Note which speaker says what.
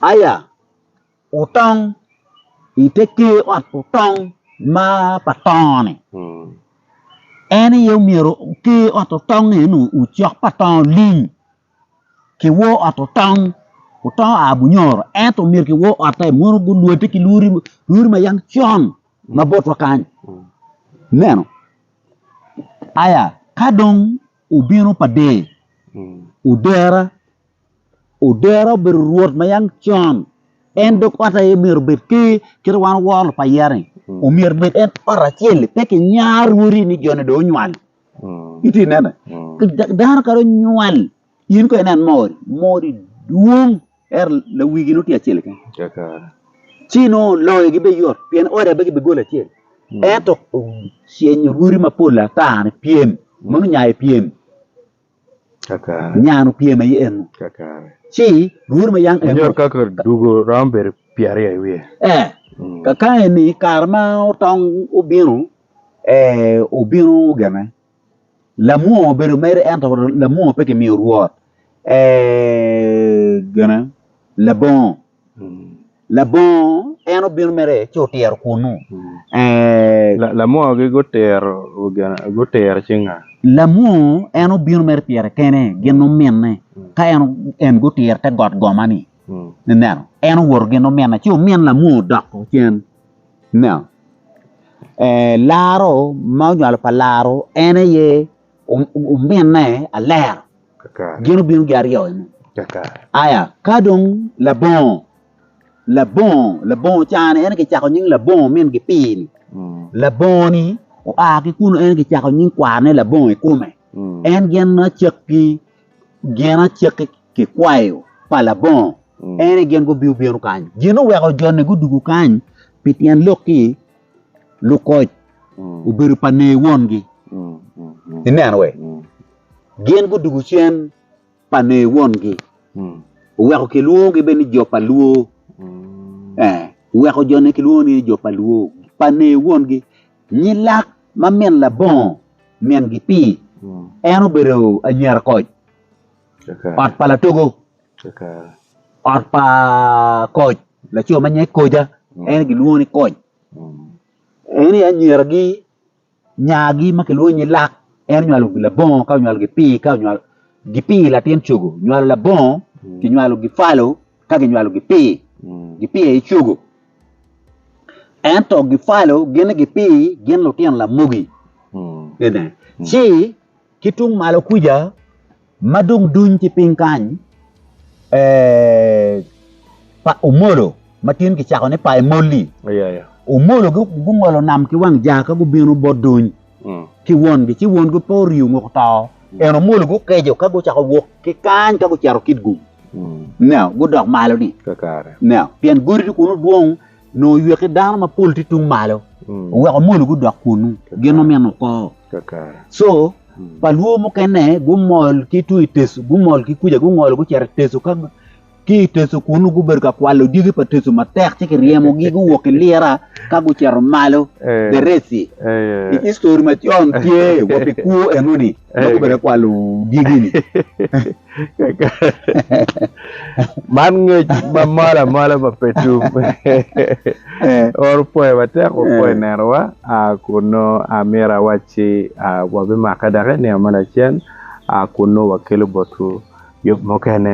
Speaker 1: Aya, wutong i te ker ot otong ma pa tongo-ni. En aye omyero ker ot otong eno ocok pa tongo lim ki wor ot otong otongo a bunyoro ento myero ki wor otte mono gulwote ki lwori lwori ma yam con ma botwa kany. Ineno? Aya, ka dong obino pa der, odera Odero obedo rwot ma yam con, en dog ot aye myero obed ker kit wan woro lupayerre-ni. Omyero obed en ot acel-li pe kinyar rwodi ni joni dong onywal. Itye ka nene? Da- Dano kadi onywal, in kong inen moo odi, moo odi dwong ento lawigi nongo tye acel keken. Kaka Ci nongo loyogi bene yot pien ot aye pe gibigolo acel. Ento ocenyo rwodi mapol ata ni pyem, mono nya aye pyem. Nyan opyem aye eno ci rwod ma yang eno. Nyot kaka dugo
Speaker 2: romo bedo pyeraryo i wiye. Ee, kakayi
Speaker 1: ni kare ma otong obino, ee, obino gene. Lamwongo obedo mere ento lamwongo pe kimiyo rwot, ee, gene, labongo. Labongo en obino mere ci otiro kunnu.
Speaker 2: Lamwogi gutiro gutiro cing nga? Lamwongo
Speaker 1: en obino mere pire kene gin ominne ka en en gutiro te got goma-ni. Ineno? En owoto gin ominne ci omin Lamwongo odoko cen. Ineno? Laro ma onywalo pa Laro en aye ominne aler. Gin obino gi aryo eno. Aya ka dong labongo labongo labongo cani en aye kicako nying labongo min gi pii-ni labongo ni oa ki kunu en aye kicako nying kwarne labongo i kome en gin ma cakki gin acakki kikwayo pa labongo en aye gin gubino bino kany. Gin oweko jo-ni gudwogo kany pi tyen lok-ki Lukoc obedo pa nee wongi. Ineno we? Gin gudugu cen pa nee wongi. Oweko kilwongogi bene ni jo pa Luo. Eh, oweko jo ne kilwongo ni jo pa Luo, pa nee wongi. Nyilak ma min labongo min-gi pi, en obedo anyira koc, ot pa latogo. Ot pa koc, laco ma nyinge Koja, en gilwongo ni koc. En aye anyiragi, nyagi ma kilwongo ni lak, en onywalo labongo ka onywalo gipii ka onywalo gipii latin cogo, onywalo labongo, kinywalo gipalo ka kinywalo gipii, gipii aye cogo. Ento gipalo gin ni gipii gin lutino lamogi. Ci ki tung malo kuca Ma dong duny ki piny kany eh, pa Omolo ma tin kicako ni pa Emoli. Yeah, yeah. Omolo gu- gungolo nam ki wang jaa ka gubino bot duny Mm. ki wongi, ci wongi pe orio ongo oto. En Omolo gukejo ka gucako wok ki kany ka gucito Kitgum. Mm. Now, gudok malo ni. Kakare. Now, pien godi dong kono dwong nongo oywe ki dano mapol tye tung malo oweko molu gudok kunnu gin omyeno oko co pa lwo mukene gumol ki tung i teco gumol ki kuca gungolo gucito i teco ka ki i teco kunnu gubedo ka kwalo dyegi pa teco matek ci kiryemogi guwok ki lira ka gucito malo dereci i histori macon tye wa pi kwo enoni Dok obedo kwalo dyegi-ni.
Speaker 2: Man ngec ma malo amala pa Petum. Oro pwoyo matek wapwo i nenowa. Kun nongo myero awacci wabimakke dok i nino me lacen kun nongo wakelo botwu yub mukene.